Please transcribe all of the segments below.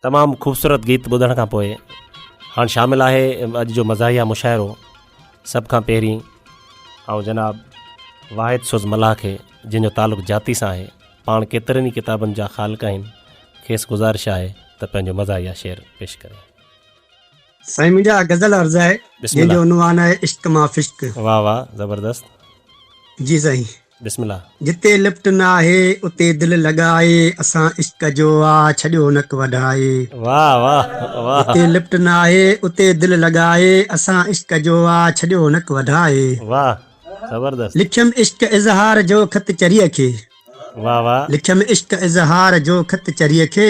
تمام خوبصورت گيت ٻڌڻ کان پوء هاڻ شامل آهي اڄ جو مزاحيه مشاعرو سڀ کان پهرين آئون جناب واحد سوز ملاح کي جن جو تعلق جاتي سان آهي پاڻ ڪيترن ئي ڪتابن جا خالق آهن کيس گذارش آهي ته پنهنجو مزاحيه شعر پيش ڪري. سائين منهنجي اها غزل عرض آهي جنهن جو عنوان آهي عشق مان فشق. واھ واھ زبردست. جي سائين. بسم الله. جتي لفٽ نه آهي اتي دل لڳائي اسان عشق جو آ ڇڏيو نڪ وڍائي. واھ واھ واھ. جتي لفٽ نه آهي اتي دل لڳائي اسان عشق جو آ ڇڏيو نڪ وڍائي. واھ زبردست. لکيم عشق اظهار جو خط چريء کي. واھ واھ. لکيم عشق اظهار جو خط چريء کي.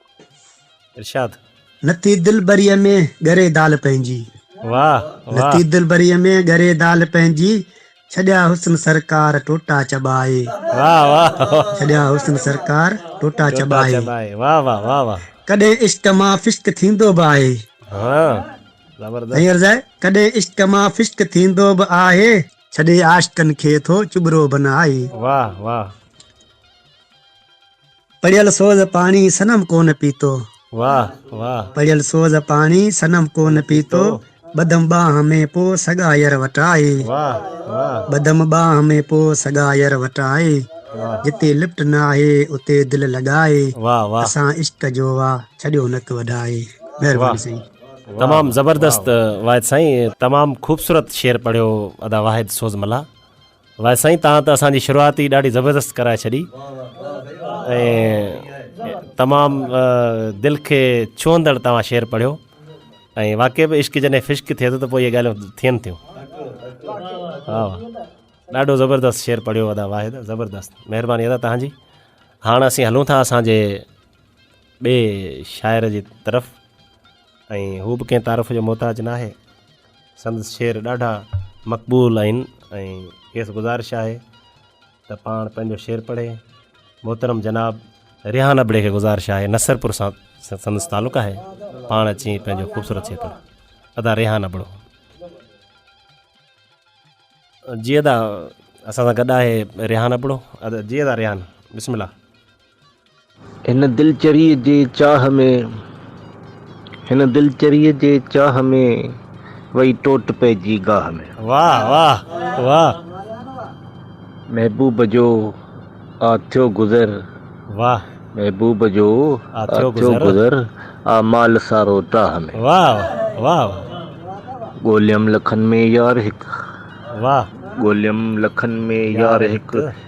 ارشاد. نٿي دلبريء ۾ ڳري دال پنهنجي. واهه واهه. نٿي دلبريء ۾ ڳري دال پنهنجي. ڇڏيا حسن سرڪار ٽوٽا چٻائي. واهه واهه واهه. ڇڏيا حسن سرڪار ٽوٽا چٻائي. ٽوٽا چٻائي واهه واهه واهه واهه. ڪڏهن عشق مان فشق ٿيندو به آهي. هان زبردست. سائين عرض آهي. ڪڏهن عشق مان فشق ٿيندو به آهي. ڇڏي عاشقن کي ٿو چٻرو بنائي. واهه واهه. پڙيل سوز پاڻي صنم ڪونه پيتو. واه واه. پڙيل سوز پاڻي صنم ڪونه پيتو. ٻڌم ٻانهن ۾ پو سڳاير وٽ آئي. واه واه. ٻڌم ٻانهن ۾ پو سڳاير وٽ آئي. جتي لفٽ ناهي اتي دل لڳائي. واه واه. اسان عشق جو وا ڇڏيو نڪ وڍائي. مهرباني سائين. تمام زبردست واحد سائين تمام خوبصورت شعر پڙهيو ادا واحد سوز ملاح. واه سائين تان ته اسان جي شروعات ئي ڏاڍي زبردست ڪرائي ڇڏي ۽ تمام دل کي ڇهندڙ توهان شعر پڙهيو ۽ واقعي به عشق جڏهن فشق ٿئي ٿو ته پوء اهي ڳالهيون ٿين ٿيون ها ڏاڍو زبردست شعر پڙهيو ادا واحد زبردست مهرباني ادا تان جي هاڻ اسين هلون ٿا اسان جي ٻئي شاعر جي طرف ۽ هو به ڪنهن تعارف جو محتاج ناهي سندس شعر ڏاڍا مقبول آهن ۽ کيس گذارش آهي ته پاڻ پنهنجو شعر پڙهي محترم جناب ريحان ابڙي کي گذارش آهي نصرپور سان سندس تعلق آهي پاڻ اچي پنهنجو خوبصورت شعر پڙهي ادا ريحان ابڙو جي ادا اسان سان گڏ آهي ريحان ابڙو ادا جي ادا ريحان بسم الله هن دلچريء جي چاهه ۾، هن دلچريء جي چاهه ۾، وئي ٽوٽ پئجي گاهه ۾. واھ واھ واھ. محبوب جو آ ٿيو گذر. واھ. محبوب جو آ ٿيو گذر. آ مال سارو ٽاهه ۾. واھ واھ واھ. ڳوليم لکن ۾ يار هڪ. واھ. ڳوليم لکن ۾ يار هڪ.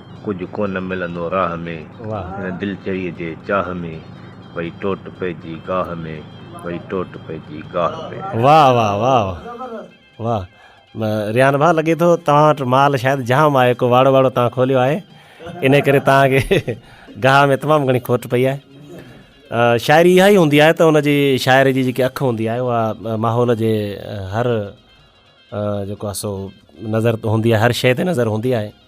ڪجهه ڪونه ملندو راهه ۾، هن دل چريء جي چاهه ۾، وئي ٽوٽ پئجي گاهه ۾، وئي ٽوٽ پئجي گاهه ۾. واھ واھ واھ واھ واھ ريان ڀاء لڳي ٿو توهان وٽ مال شايد جام آهي ڪو واڙو واڙو توهان کوليو آهي انهي ڪري توهان کي گاهه ۾ تمام گهڻي کوٽ پئي آهي شاعري اها ئي هوندي آهي ته ان جي شاعر جي جيڪي اک هوندي آهي اها ماحول جي هر جيڪو آهي سو نظر هوندي آهي هر شيء تي نظر هوندي آهي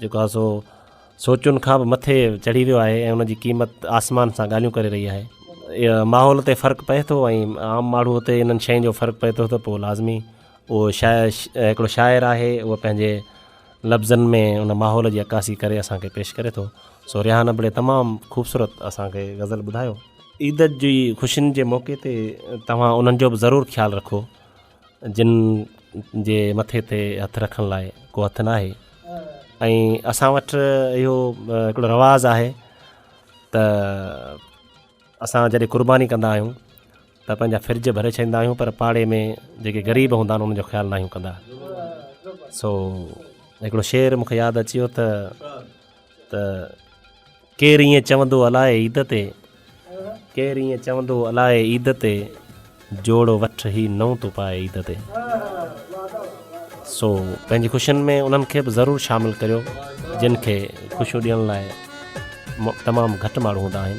جيڪو آهي سو سوچن کان به مٿي چڙهي ويو آهي ۽ ان جي قيمت آسمان سان ڳالهيون ڪري رهي آهي ماحول تي فرق پئي ٿو ۽ عام ماڻهو تي انهن شين جو فرق پئي ٿو ته پوء لازمي اهو شاعر هڪڙو شاعر آهي اهو پنهنجي لفظن ۾ ان ماحول جي عڪاسي ڪري اسان کي پيش ڪري ٿو سو ريحان ابڙي تمام خوبصورت اسان کي غزل ٻڌايو عيد جي خوشين جي موقعي تي توهان انهن جو به ضرور خيال رکو جن جي مٿي تي هٿ رکڻ لاء ڪو هٿ ناهي ۽ اسان وٽ اهو هڪڙو رواز آهي ته اسان جڏهن قرباني ڪندا آهيون ته پنهنجا فرج ڀري ڇڏيندا آهيون پر پاڙي ۾ جيڪي غريب هوندا آهن انهن جو خيال ناهيون ڪندا سو هڪڙو شعر مونکي ياد اچي ويو ته ته ڪير ائين چوندو الائي عيد تي ڪير ائين چوندو الائي عيد تي جوڙو وٺ هي نئون تو پائي عيد تي سو پنهنجي خوشين ۾ انهن کي به ضرور شامل ڪريو جن کي خوشيون ڏيڻ لاء تمام گهٽ ماڻهو هوندا آهن